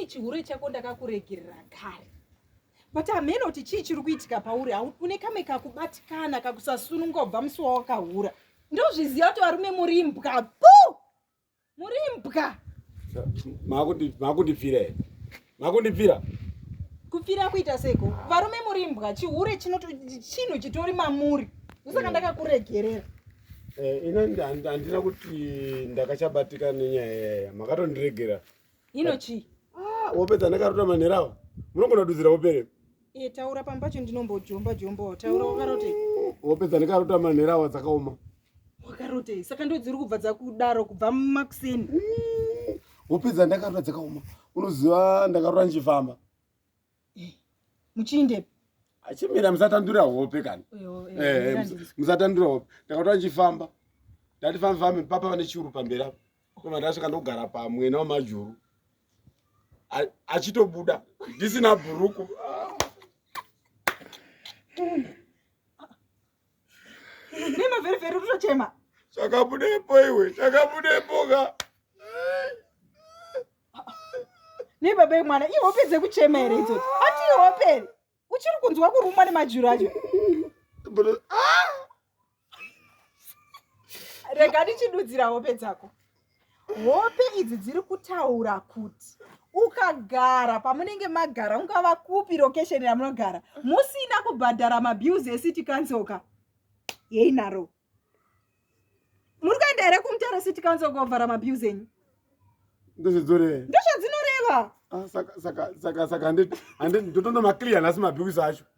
chihure chako ndakakuregerera kare but hameno kuti chii chiri kuitika pauri une kame kakubatikana kakusasununga kubva musi wawakahura ndozviziva kuti varume muri mbwa puu Muri imbwa. Makuti makundipfira here? Makundipfira? Kupfira kuita seko. Varume muri imbwa, chihure chinoto chinhu chitori mamuri. Usaka eh. ndakakuregerera. Eh, ina handina kuti ndakachabatika nenyaya yaya. Makatondiregera. Ino chi? Ah, wopedza ndakarota manhera awa. Munogona kududzira wopere. Eh, taura pamba pacho ndinombojomba jomba. Taura wakaroti. Wopedza ndakarota manhera awa dzakaoma. wakarotei saka ndodziri kubva dzakudaro kubva makuseni hope dzandakarota dzakaoma unoziva ndakarota ndichifamba eh, muchiindepi achimira musatandura hope kani eh, eh, musatandura hope ndakarota ndichifamba ndati fambi fambi papa vane chiuru pamberi apo koma ndasvika ndogara pamwena wamajuru achitobuda ndisina bhuruku Nema very very unochema. Chakabudepo iwe, chakabudepo ka. Ne baba mwana, i hope dze kuchema here idzo. Ati hope here. Uchiri kunzwa kurumwa ne majuru acho. But ah! Rega ndichidudzira hope dzako. hope idzi dziri kutaura kuti ukagara pamunenge magara ungava kupi location yamunogara musina kubhadhara mabills ecity council ka yeinaro muri kuenda here kumutare city council kovhara mabills enyu ndozvidzorei ndozvadzinoreva ah, saka saka saka saka handiti handiti ndotonomaclear nhasi mabills acho